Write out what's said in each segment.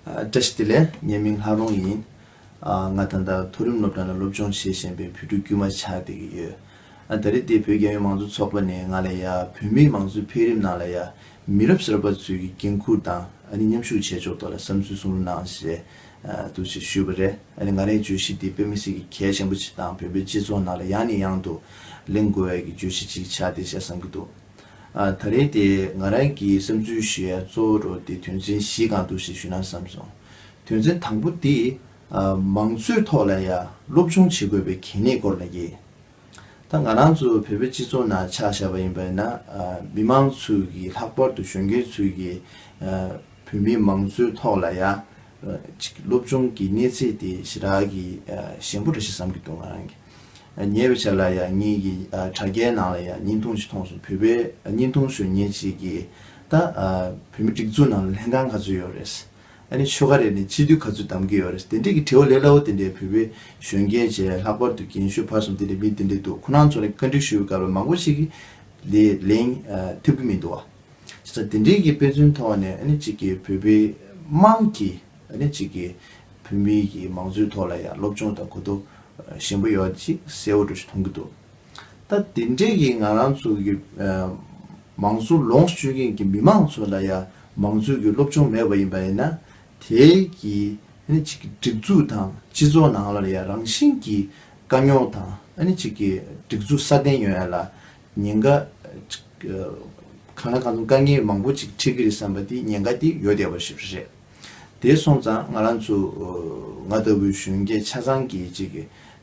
བཀྲ་ཤིས་བདེ་ལེགས། ངའི་མིང་ལྷ་རོང་ཡིན། ང་ད་ལྟ་མཐོ་རིམ་སློབ་གྲྭ་ནས་སློབ་སྦྱོང་བྱེད་བཞིན་པའི་བོད་ཕྲུག་དཀྱུས་མ་ཆགས་བསྡད་ཀྱི་ཡོད། ད་རེས་འདི་བོད་རྒྱ་ཡོངས་མང་གཙོ་ཚོགས་པ་ནས་ང་ལ་ཡ། བོད་མིའི་མང་གཙོའི་འཕེལ་རིམ་ནང་ལ་ཡ། མི་རབས་གསར་པ་ཚོས་ཀྱི་འགན་འཁུར་དང་ཨ་ནི་མཉམ་ཞུགས་བྱས་ཕྱོགས་ཐོག་ལ་བསམ་ཚུལ་གསུང་རོགས་གནང་ཞེས་འདུག་ཅེས་ཞུས་པ་རེད། ཨ་ནི་ང་རང་གི་བརྗོད་གཞི་འདི་བོད་མི་སེར་གྱི་གལ་ཆེན་པོ་ཆེ་དང་བོད་པའི་སྤྱི་ཚོགས་ནང་ལ་ཡང་ནས་ཡང་དུ་གླེང་དགོས་བས་ཀྱི་བརྗོད་གཞི་ཅིག་ཆགས་བསྡད་བྱས་བསམ་གྱི་འདུག། ད་རེས་དེ་ང་རང་གི་བསམ་ཚུལ་བཞིན་གཙོ་བོ་རུ་དེ་དོན་ཚན་བཞི་གང་འདུག་ཞེས་ཞུ་ན་བསམ་སོང། དོན་ཚན་དང་པོ་དེ། མང་གཙོའི་ཐོག་ལ་ཡང་སློབ་སྦྱོང་བྱེད་དགོས་པའི་གལ་གནད་སྐོར་ལ་ཡིན། ད་ང་རང་ཚོ་བོད་པའི་སྤྱི་ཚོགས་ནང་ཆགས་བཞག་པ་ཡིན་པས་ན་མི་མང་ཚོས་ཀྱིས་ལྷག་པར་དུ་གཞོན་སྐྱེས་ཚོས་ཀྱིས་བོད་མིའི་མང་གཙོའི་ཐོག་ལ་ཡང་སློབ་སྦྱོང་གི་གནས་ཚད་དེ་ཞེ་དྲག་གིས་ཞན་པོ་རེད་ཞེས་བསམ་གྱི་འདུག་ང་རང་གིས། ཉེ་བའི་ཆར་ལ་ཡང་ཉིད་ཀྱི་དྲ་རྒྱའི་ནང་ལ་ཡང་རྙིང་ཐུང་ཞིག་མཐོང་སོང་བོད་པའི་རྙིང་ཐུང་གཞོན་སྙེ་ཅིག་གིས་ད་བོད་མི་སྒྲིག་འཛུགས་ནང་ལ་ལྷན་ཁང་ག་ཚོད་ཡོད་རེད། ཨ་ནི་ཆོལ་ཁ་རེ་ནས་སྤྱི་འཐུས་ག་ཚོད་གདམ་གི་ཡོད་རེད་དེ་འདྲས་ཀྱི་དྲི་བ་ལས་སླ་བོ་དེ་འདྲས་བོད་པའི་གཞོན་སྐྱེས་བཅས་ལྷག་པར་དུ་རྒན་ཤོས་ཕར་ཚོམ་དེ་འདྲས་མི་དེ་འདྲས་འདུག་ཁོ་རང་ཚོ་ནས་བཀའ་འདྲི་ཞུ་དགའ་བའི་མང་པོ་ཞིག་ལས་ལེན་ཐུབ་ཀྱི་མི་འདུག་བ། བྱས་ཙང་དེ་འདྲས་ཀྱི་དཔེ་མཚོན་ཐོག་ནས་ཨ་ནི་ཅིག་གིས་བོད་པའི་དམངས་ཀྱི། ཨ་ནེ་གཅིག་གིས་བོད་མི་ཡི་མང་གཙོའི་ཐོག་ལ་ཡང་སློབ་སྦྱོང་དང་གོ་རྟོགས་ཞན་པོ་ཡོད་ཅེས་གསལ་བོ་འགྲོ་ཞིག་མཐོང་གི་འདུག་ད་དེ་འབྲེལ་གྱི་ང་རང་ཚོ་གི་མང་གཙོ་ལོངས་སྤྱོད་མཁན་གྱི་མི་མང་ཚོ་ལ་ཡང་མང་གཙོའི་གི་སློབ་སྦྱོང་མེད་པ་ཡིན་པ་ཡིན་ན་དེ་གི་ཨ་ནེ་གཅིག་གི་སྒྲིག་འཛུགས་དང་སྤྱི་ཚོགས་ནང་ལ་ཡང་རང་བཞིན་གྱི་དཀའ་རྙོག་དང་ཨ་ནེ་གཅིག་གི་སྒྲིག་འཛུགས་སྲ་བརྟན་ཡོད་ཡ་ལ་ཉེན་ཁ་གང་ལ་གང་འཚམ་དཀའ་ངལ་མང་པོ་ཅིག་འཕྲད་གི་རེད་བསམ་པ་དེ་ཉེན་ཁ་དེ་ཡོད་བསྡད་པ་ཞིག་རེད། དེ་སོང་ཙང་ང་རང་ཚོ་ང་ལྟ་བུའི་གཞོན་སྐྱེས་ཆ་ཚང་གི་གཅིག་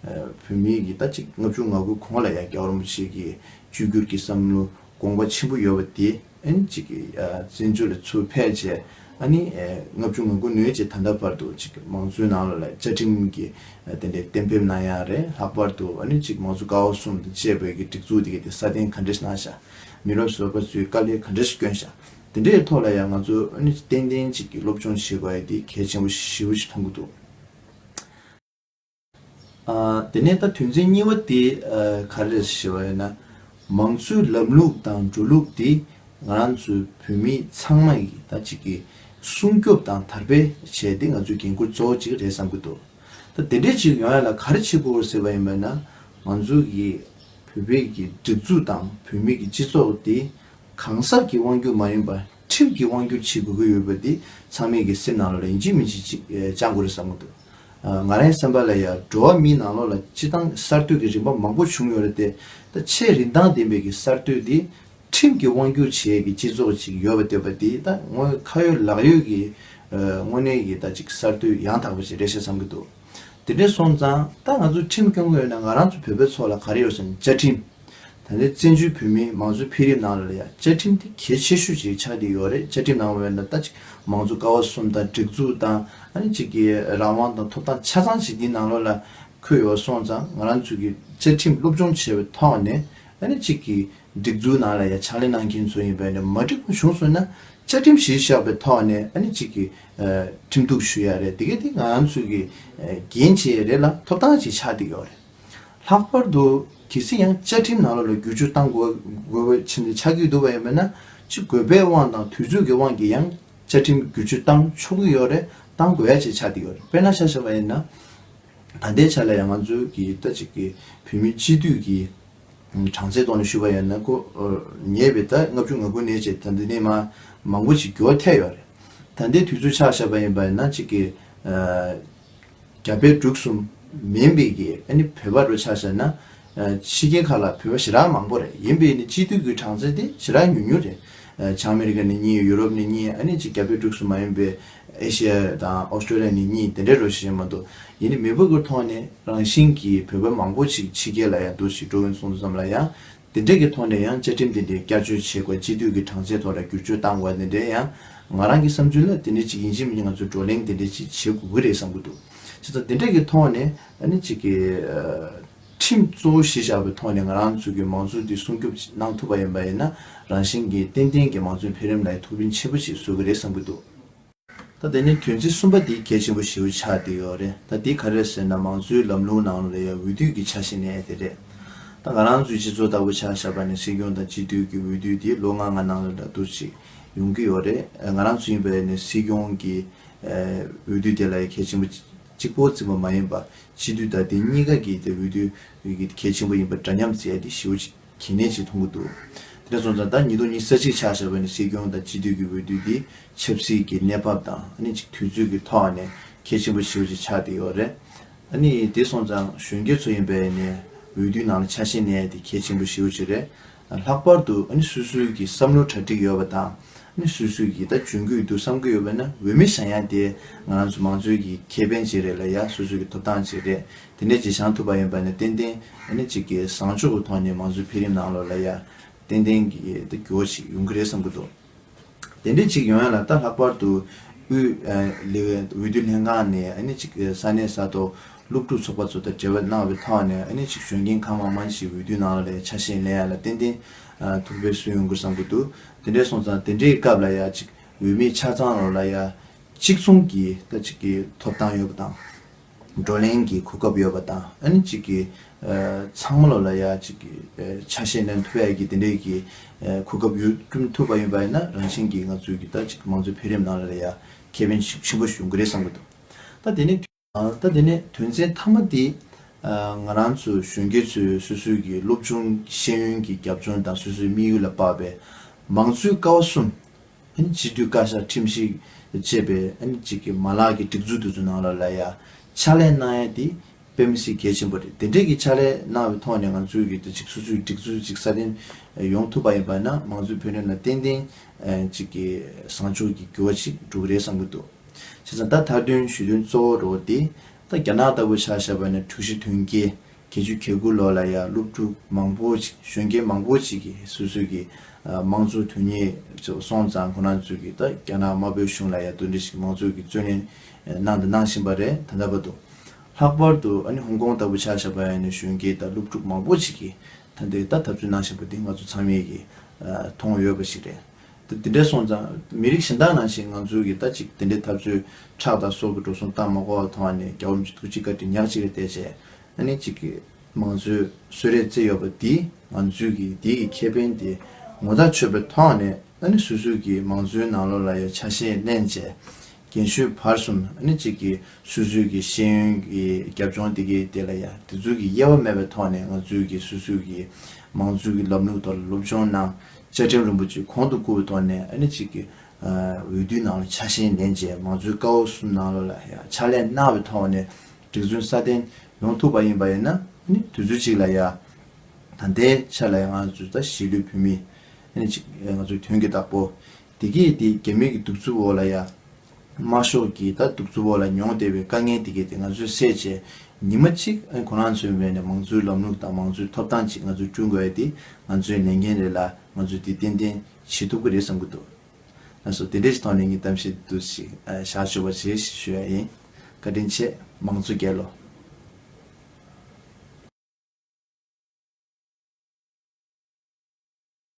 བོད་མི་ཡིས་ད་གཅིག་ལྔ་བཅུ་ང་དགུ་གོང་ལ་ཡ་སྐྱ་བོར་མོ་ཞིག་གི་བཅོས་བསྒྱུར་གྱི་བསམ་བློ་དགོངས་པ་ཆེན་པོ་ཡོད་པ་དེ་ཨན་གཅིག་བཙན་བྱོལ་ལ་ཚུར་ཕེབས་རྗེས་ཨ་ནི་ལྔ་བཅུ་ང་དགུ་ནོས་རྗེས་ད་ལྟ་བར་དུ་གཅིག་མང་གཙོའི་ནང་ལ་བཅའ་ཁྲིམས་ཀྱི་དེ་འདྲའི་གཏན་འབེབས་གནང་ཡ་རེད་ལྷག་པར་དུ་ཨ་ནི་གཅིག་མང་གཙོ་ཀའོ་གསུམ་དང་བཅས་བོད་ཀྱི་སྒྲིག་འཛུགས་དེ་ག་དེ་སྲ་བརྟན་ག་འདྲས་གནང་ཤག་མི་རབས་བཟོ་པ་ཚོའི་དཀའ་ལས་ག་འདྲས་སྐྱོན་ཤག་དེ་འདྲའི་ཐོག་ལ་ཡང་ང་ཚོས་ཨོ་ནི་ཏན་ཏན་ཅིག་གིས་སློབ་སྦྱོང་བྱེད་པ་དེ་གལ་ཆེན་པོ་ཞེ་བོ་ཞིག་མཐོང་གི་འདུག་དེ་ནས་ད་དོན་ཚན་གཉིས་པ་དེ་ག་རེ་རེད་ཞེས་པ་ཡིན་ན། མང་གཙོའི་ལམ་ལུགས་དང་འགྲོ་ལུགས་དེ་ང་རང་ཚོའི་བོད་མི་ཚང་མ་ཡིས་ད་ཅིག་གིས་སྲུང་སྐྱོབ་དང་དར་སྤེལ་བྱས་དེ་ང་ཚོའི་འགན་ཁུར་གཙོ་བོ་ཅིག་རེད་བསམ་གྱི་འདུག་ད་དེ་འདྲའི་ཅིག་ཡོང་ཡ་ལ་ག་རེ་བྱེད་དགོས་ཟེར་བ་ཡིན་པ་ན། ང་ཚོ་གིས་བོད་པའི་གི་སྒྲིག་འཛུགས་དང་བོད་མི་གི་སྤྱི་ཚོགས་དེ་གང་ཟག་གི་དབང་སྒྱུར་མ་ཡིན་པར་ཁྲིམས་ཀྱིས་དབང་སྒྱུར་བྱེད་དགོས་ཀྱི་ཡོད་པ་འདི་ཚང་མས་གི་སེམས་ནང་ལ་ལན་གཅིག་མི་གཅིག་ཅིག་བཅང་དགོས་རེད་བསམ་གི་འདུག་ང་རང་སེམས་པ་ལ་ཡང་འགྲོ་བ་མིའི་ནང་ལོགས་ལ་སྤྱི་བཏང་གསར་གཏོད་ཀྱི་རིམ་པ་མང་པོ་བྱུང་ཡོད་རེད་དེ་ད་ཆའི་རིན་ཐང་ལྡན་པའི་གི་གསར་གཏོད་འདི་ཁྲིམས་ཀྱིས་དབང་སྒྱུར་བྱེད་ཀྱི་སྤྱི་ཚོགས་ཅིག་ཡོད་པ་འདོད་པ་འདི་ད་དངོས་ཁ་ཡོད་ལག་ཡོད་ཀྱི་དངོས་གནས་ཀྱི་ད་ཅིག་གསར་གཏོད་ཡང་དག་པ་ཅིག་རེད་ཤག་བསམ་གི་འདུག་དེ་འདྲས་སོང་ཙང་ད་ང་ཚོ་ཁྲིམས་སྐྱོང་མཁན་ཡོད་ན་ང་རང་ཚོ་བོད་པའི་ཚོགས་ལ་ག་རེ་ཡོད་སམ་བཅའ་ཁྲིམས། ད་ལྟའི་བཙན་བྱོལ་བོད་མིའི་མང་གཙོའི་འཕེལ་རིམ་ནང་ལ་ཡང་བཅའ་ཁྲིམས་དེ་གལ་ཆེ་ཤོས་ཤིག་ཆགས་ཀྱི་ཡོད་རེད་བཅའ་ཁྲིམས་ནང་བས་ན་ལྟ་ཅི་མང་གཙོ་ཀ་བ་གསུམ་དང་སྒྲིག་འཛུགས་དང་ཨ་ནི་ཅིག་གི་རང་དབང་དང་ཐོབ་ཐང་ཆ་ཚང་ཞིག་འདིའི་ནང་ལོགས་ལ་འཁོད་ཡོད་སོང་ཙང་ང་རང་ཚོས་ཀྱི་བཅའ་ཁྲིམས་སློབ་སྦྱོང་བྱས་པའི་ཐོག་ནས་ཨ་ནི་ཅིག་གི་སྒྲིག་འཛུགས་ནང་ལ་ཡང་ཕྱག་ལས་གནང་མཁན་ཚོ་ཡིན་པས་ན་མ་འགྲིག་པ་བྱུང་སོང་ན་བཅའ་ཁྲིམས་གཞིར་བཞག་པའི་ཐོག་ནས་ཨ་ནི་ཅིག་གི་ཁྲིམས་གཏུགས་ཞུ་ཡག་རེད་དེ་གས་དེ་ང་རང་ཚོས་ཀྱི་འགན་བྱས་ཡས་རེད་ལ་ཐོབ་ཐང་ཞིག་ཆགས་ཏེ་ཡོད་རེད། ལྷག་པར་དུ་གལ་སྲིད་ཡང་བཅའ་ཁྲིམས་ནང་ལ་ལ་བསྒྱུར་བཅོས་གཏང་དགོས་པའི་ཆེད་འདི་ཆགས་ཀྱི་འདུག་པ་ཡིན་པས་ན་ཅི་དགོས་པའི་དབང་དང་དུས་ཚོད་ཀྱི་དབང་གིས་ཡང་བཅའ་ཁྲིམས་བསྒྱུར་བཅོས་གཏང་ཆོག་གི་ཡོད་རེད་གཏང་དགོས་ཡ་ཅེས་ཆགས་ཀྱི་ཡོད་རེད་དཔེར་ན་ཤ་ཞེས་པ་ཡིན་ན། ད་ལྟའི་ཆ་ལ་ཡང་ང་ཚོའི་གི་ད་ཅིག་གི་བོད་མི་སྤྱི་འཐུས་ཀྱི་གྲངས་ཚད་ཐོག་ནས་ཞུ་བ་ཡིན་ན་ཀོ་ཉེས་པའི་ད་ལྔ་བཅུ་ང་དགུ་ནས་ཅེས་ད་འདི་ནས་མ་མང་པོ་ཞིག་འགྱོ་ཐལ་ཡོད་རེད། ད་ལྟའི་དུས་ཚོད་ཆགས་ཞེས་པ་ཡིན་པས་ན་ཅིག་གི། རྒྱ་བལ་འབྲུག་གསུམ་མིན་པའི་གི་ཨ་ནི་བོད་པ་རུ་ཆགས་བྱས་ན། ཕྱི་རྒྱལ་ཁག་ལ་བོད་པ་ཞེ་དྲག་མང་པོ་རེད་ཡིན་པའི་ནི་སྤྱི་འཐུས་ཀི་གྲངས་ཚད་དེ་ཞེ་དྲག་ཉུང་ཉུང་རེད། བྱང་མེ་རི་ཀ་ནི་གཉིས་ཡུ་རོབ་ནི་གཉིས་ཨ་ནི་གཅིག་རྒྱ་བལ་འབྲུག་གསུམ་མ་ཡིན་པའི་ཨེ་ཤེ་ཡ་དང་ཨོ་སྟྲོ་ལི་ཡ་ནི་གཉིས་དེ་འདྲའི་རུ་ཞེ་ཞེ་མ་འདུག་ཡིན་ནི་མི་བུ་ཀི་ཐོག་ནས་རང་བཞིན་གི་བོད་པ་མང་པོ་ཞིག་ཕྱི་རྒྱལ་ལ་ཡང་འདུག་ཞིག་འགྲོ་འོན་སོང་དུ་ཙམ་ལ་ཡང་འདི་འདྲས་ཀྱི་ཐོག་ནས་ཡང་བཅའ་ཁྲིམས་འདི་འདྲའི་བསྐྱར་བཅོས་བྱེད་དགོས་གཅིག་སྡུད་ཀྱི་གྲངས་ཚད་ཐོག་ལ་བསྒྱུར་བཅོས་བཏང་དགོས་འདི་འདྲས་ཡང་ང་རང་གི་བསམ་ཚུལ་ལ་དེ་འདྲས་གཅིག་ཡིན་གཅིག་མིན་ང་ཚོས་བགྲོ་གླེང་འདི་འདྲས་གཅིག་བྱེད་དགོས་ཀྱི་རེད་བསམ་གྱི་འདུག་བྱས་ཙང་འདི་འདྲས་ཀྱི་ཐོག་ནས་ཨ་ནི་གཅིག་གི། ཁྲིམས་གཙོ་བོ་གཞི་བཞག་པའི་ཐོག་ནས་ང་རང་ཚོ་གི་མང་གཙོ་འདི་སྲུང་སྐྱོབ་གནང་ཐུབ་པ་ཡིན་པ་ཡིན་ན་རང་བཞིན་གྱིས་ཏན་ཏན་གྱི་མང་གཙོའི་འཕེལ་རིམ་ལ་ཐུགས་རིན་ཆེན་པོ་ཞིག་བཟོ་གི་རེད་བསམ་གྱི་འདུག། ད་དེ་ནི་དོན་ཚིག་གསུམ་པ་འདི་གལ་ཆེན་པོ་ཞེའུ་ཆ་དེ་ཡོད་རེད་ད་འདི་ག་རེད་ཟེར་ན་མང་གཙོའི་ལམ་ལུང་ནང་ལ་ཡ་འོས་བསྡུས་ཀྱི་ཆ་ཞིག་ནས་དེ་རེད་ད་ང་རང་ཚོའི་སྤྱི་ཚོགས་ལྟ་བུ་ཆགས་བཞག་པ་ནས་སྲིད་སྐྱོང་དང་སྤྱི་འཐུས་ཀྱི་འོས་བསྡུས་དེ་ལོ་ང་ལྔ་ནང་ལ་འདྲ་འདུག་ཅིག་ཡོང་གི་ཡོད་རེད་ང་རང་ཚོ་ཡིན་པ་ཡིན་ནས་སྲིད་སྐྱོང་གི་འོས་བསྡུས་དེ་ལ་ཡ་གལ་ཆེན་པོ་གཅིག་པོ་འཛིན་པ་མ་ཡིན་པ་སྤྱི་འཐུས་དང་དེ་གཉིས་ཀ་གི་འོས་བསྡུས་གལ་ཆེན་པོ་ཡིན་པ་འདྲ་མཉམ་འཛིན་ཡ་འདི་ཞེའུ་ཆ། གྱི་གནས་ཞིག་མཐོང་གི་འདུག་དེ་ནས་བཟུང་ཙང་ད་ཉིད་དོ་ཉིད་ས་གཅིག་ཆགས་བཞག་པས་ན་སྲིད་སྐྱོང་དང་སྤྱི་འཐུས་ཀྱི་འོས་བསྡུ་འདི་ཆབ་སྲིད་ཀྱི་གནས་བབ་དང་ཨ་ནི་གཅིག་དུས་ཚོད་ཀྱི་ཐོག་ནས་གལ་ཆེན་པོ་ཞིག་བཞིན་ཆགས་བསྡད་ཡོད་རེད། ཨ་ནི་དེ་སོང་ཙང་གཞོན་སྐྱེས་ཚོ་ཡིན་པས་ནས་འོས་བསྡུའི་ནང་ལ་ཆ་ཤས་གནས་དེ་གལ་ཆེན་པོ་ཞིག་ཡོད་ཅིག་རེད། ལྷག་པར་དུ་ཨ་ནི་སུས་སུས་ཀྱི་བསམ་བློ་གྲ་སྒྲིག་ཡོད་པ་དང་ཨ་ནི་སུས་སུས་ཀྱིས་ད་འཇོན་གྱི་འདུག་བསམ་གྱི་ཡོད་པས་ན་འོས་མི་བཞག་ཡ་དེ་ང་རང་ཚོ་མང་གཙོའི་གི་ཁེ་ཕན་གཅིག་རེད་ལ་ཡ་སུས་སུས་ཀྱི་ཐོབ་ཐང་གཅིག་རེད་དེ་ནས་ཀྱི་བྱང་ཐུབ་པ་ཡོན་པ་ནས་ཏན་ཏན་ནི་ཅིག་གི་བཟང་སྤྱོད་དུ་ཐོགས་ནས་མང་གཙོའི་འཕེལ་རིམ་ནང་ལོགས་ལ་ཡ། ཏན་ཏན་གྱི་དུ་གྱུར་བ་ཞིག་ཡོང་གི་རེད་བསམ་གྱི་འདུག་དེ་འདྲས་ཅིག་ཡོང་ཡ་ལ་ད་ལྷག་པར་དུ་དབུས་འོས་བསྡུ་ལྷན་ཁང་ནས་ནི་ཅིག་ས་གནས་ས་ཐོག་སློབ་ཕྲུག་ཚོགས་པ་ཚོ་དང་འབྲེལ་བ་གནང་བའི་ཐོག་ནས་ནི་ཅིག་གཞོན་སྐྱེས་ཁག་མང་མང་ཞིག་འོས་བསྡུའི་ནང་ལོགས་ལ་ཡ་ཆ་ཤས་ལེན་ཡ་ལ་ཏན་ཏན་ཐུག་པའི་སྲོལ་ཡོང་གི་བསམ་གྱི་འདུག་དེ་འདྲས་སོང་ཙང་དེ་འདྲའི་སྐབས་ལ་ཡ་ཅིག་འོས་མི་ཆ་ཚང་ལོགས་ལ་ཡ་གཅིག་མཚུངས་ཀྱི་ད་ཅིག་གི་ཐོབ་ཐང་ཡོད་པ་དང། བགྲོ་གླེང་གི་གོ་སྐབས་ཡོད་པ་དང་ཨ་ནི་གཅིག་གིས་ཚང་མ་ལོ་ལ་ཡ་གཅིག་གི་ཆ་ཤས་ནན་ཐུབ་ཡ་གི་དེ་འདྲའི་གི་གོ་སྐབས་ཡོད་བསྐྲུན་ཐུབ་པ་ཡིན་པ་ཡིན་ན་རང་བཞིན་གི་ང་ཚོའི་གི་ད་གཅིག་མང་གཙོའི་འཕེལ་རིམ་ནང་ལ་ལ་ཡ་ཁེ་ཕན་ཆེན་པོ་ཞུགས་གི་རེད་བསམ་གི་འདུག་ད་དེ་ནི། ད་དེ་ནི་དོན་ཚན་མཐའ་མ་དེ་ང་རང་ཚོ་གཞོན་སྐྱེས་ཚོའི་སོ་སོའི་གི་སློབ་ཆུང་གི་ཤེས་ཡོན་གི་རྒྱབ་ལྗོངས་དང་སོ་སོའི་དམིགས་ཡུལ་ལ་དཔག་པའི་མང་གཙོའི་ཀ་བ་གསུམ་སྤྱི་འཐུས་བཀའ་ཤག་ཁྲིམས་ཞིབ་ཅེས་པའི་གཅིག་གི་མ་ལག་གི་སྒྲིག་འཛུགས་དེ་ཚོའི་ནང་ལ་ལ་ཡ་ཕྱག་ལས་གནང་ཡ་དེ་དཔེ་མི་སྲིད་གལ་ཆེན་པོ་རེད་དེ་འདྲས་ཀྱི་ཕྱག་ལས་གནང་བའི་ཐོག་ནས་ང་ཚོའི་གི་དེ་ཅིག་སོ་སོའི་སྒྲིག་འཛུགས་ཅིག་སྲ་བརྟན་ཡོང་ཐུབ་པ་ཡིན་པ་ན་མང་གཙོའི་བོད་དོན་ལ་ཏན་ཏན་གཅིག་གི་བཟང་ཕྱོགས་ཀྱི་འགྱུར་བ་ཅིག་འགྲོ་གི་རེད་བསམ་གྱི་འདུག་བྱས་ཙང་ད་ཐར་དོན་ཞུས་དོན་གཙོ་བོ་རོ་དེ་ད་རྒྱ་ནག་ལྟ་བུ་ཆགས་བཞག་པ་ནས་དྲུག་བཞི་དོན་བརྒྱད། ཁྱེད་ཆུ་ཁྱེར་དགུ་ལོ་ལ་ཡང་སློབ་ཕྲུག་མང་པོ་ཞིག་གཞོན་སྐྱེས་མང་པོ་ཞིག་གིས་སོ་སོའི་གི་མང་གཙོའི་དོན་གཉེར་སོང་ཙང་ཁོ་རང་ཚོས་གི་ད་རྒྱ་ནག་དམར་པོའི་གཞུང་ལ་ཡང་དོན་འདྲི་ཞིག་མང་གཙོའི་གི་བརྩོན་ལེན་གནང་དང་གནང་བཞིན་པ་རེད་ད་ལྟ་བར་དུ། ལྷག་པར་དུ་ཨ་ནི་ཧོང་ཀོང་ལྟ་བུ་ཆགས་བཞག་པ་ཡང་ནི་གཞོན་སྐྱེས་དང་སློབ་ཕྲུག་མང་པོ་ཞིག་གིས་ད་འདི་ལྟ་འཐབ་རྩོད་གནང་བཞིན་པ་འདི་ང་ཚོ་ཚང་མས་གི་མཐོང་ཡོད་པ་ཞིག་རེད། ད་དེ་འདྲས་སོང་ཙང་མི་རིགས་གཞན་དག་ནང་བཞིན་ང་ཚོའི་གིས་ད་ཅིག་དེ་འདྲས་ཐབས་རྩོད་ཁྲག་དང་སྲོག་གི་འགྲོ་སོང་གཏང་མ་གོ་བ་མཐོང་བ་ནས་རྒྱ་བོ་མཆི་ཐུགས་གཅིག་བཀའ་དྲིན་ཉག་གཅིག་རེ་བསྟད་བྱས་ཨ་ནེ་གཅིག་གིས་མང་གཙོའི་གསོལ་རས་བསྩལ་ཡོད་པ་འདིས་ང་ཚོའི་གིས་དེའི་གི་ཁེ་ཕན་དེ་ངོ་ཐག་ཆོད་པའི་ཐོག་ནས་ཨ་ནེ་སུད་སུད་གིས་མང་གཙོའི་ནང་ལོགས་ལ་ཡ་ཆ་ཤས་བསྣན་བྱས་རྒན་ཤོས་བར་གསུམ་ཨ་ནེ་གཅིག་གིས་སུད་སུད་གིས་ཤེས་ཡོན་གི་རྒྱབ་ལྗོངས་དེ་གི་དེ་ལ་ཡ་དེ་ཚུལ་གི་དབྱེ་བ་མེད་པའི་ཐོག་ནས་ང་ཚོའི་གིས་སུད་སུད་གིས་མང་གཙོའི་གི་ལམ་ལུགས་ཐོག་ལ་སློབ་སྦྱོང་གནང་བཅའ་ཁྲིམས་རིན་པོ་ཆེ་གོང་དུ་བཀུར་བའི་ཐོག་ནས་ཨ་ནེ་གཅིག་གི་འོས་བསྡུའི་ནང་ལ་ཆ་ཤས་འདེམས་རྗེས་མང་གཙོའི་བཀའ་བབས་གསུམ་ནང་ལོ་ལ་ཡང་ཕྱག་ལས་གནང་བའི་ཐོག་ནས་སྒྲིག་འཛུགས་སྲ་བརྟན་ཡོང་ཐུབ་པ་ཡིན་པ་ཡིན་ན་ཨ་ནེ་དུས་ཚོད་ཅིག་ལ་ཡང་དང་དེའི་ཕྱིར་ལ་ཡང་ང་ཚོ་ད་གཞིས་ལུས་བོད་མི་ཨ་ནེ་གཅིག་ང་ཚོ་དོན་གྱི་བདག་པོ། བདེ་སྐྱིད་དེ་རྒྱ་མིའི་གི་གདུག་རྩུབ་འོག་ལ་ཡང། དམར་ཤོག་གིས་ད་གདུག་རྩུབ་འོག་ལ་མྱོང་བདེ་བའི་དཀའ་ངལ་དེ་གས་ཏེ་ང་ཚོས་སད་རྗེས། ཉི་མ་གཅིག་ཁོ་རང་ཚོའི་ངོས་ནས་མང་གཙོའི་ལམ་ལུགས་དང་མང་གཙོའི་ཐོབ་ཐང་ཅིག་ང་ཚོས་བསྐྲུན་དགོས་ཡ་དེ་ང་ཚོའི་ལས་འགན་རེད་ལ་ང་ཚོས་དེ་ཏན་ཏན་བྱེད་ཐུབ་ཀྱི་རེད་བསམ་གྱི་འདུག་ན་སོ་དེ་འདྲའི་ཞིག་ཐོག་ནས་ངས་གཏམ་བཤད་འདི་དུ་ཞིག་བཞག་ཆོག་པ་ཞེས་ཞུ་ཡ་ཡིན། བཀའ་དྲིན་ཆེ། མང་གཙོ་རྒྱལ་ལོ།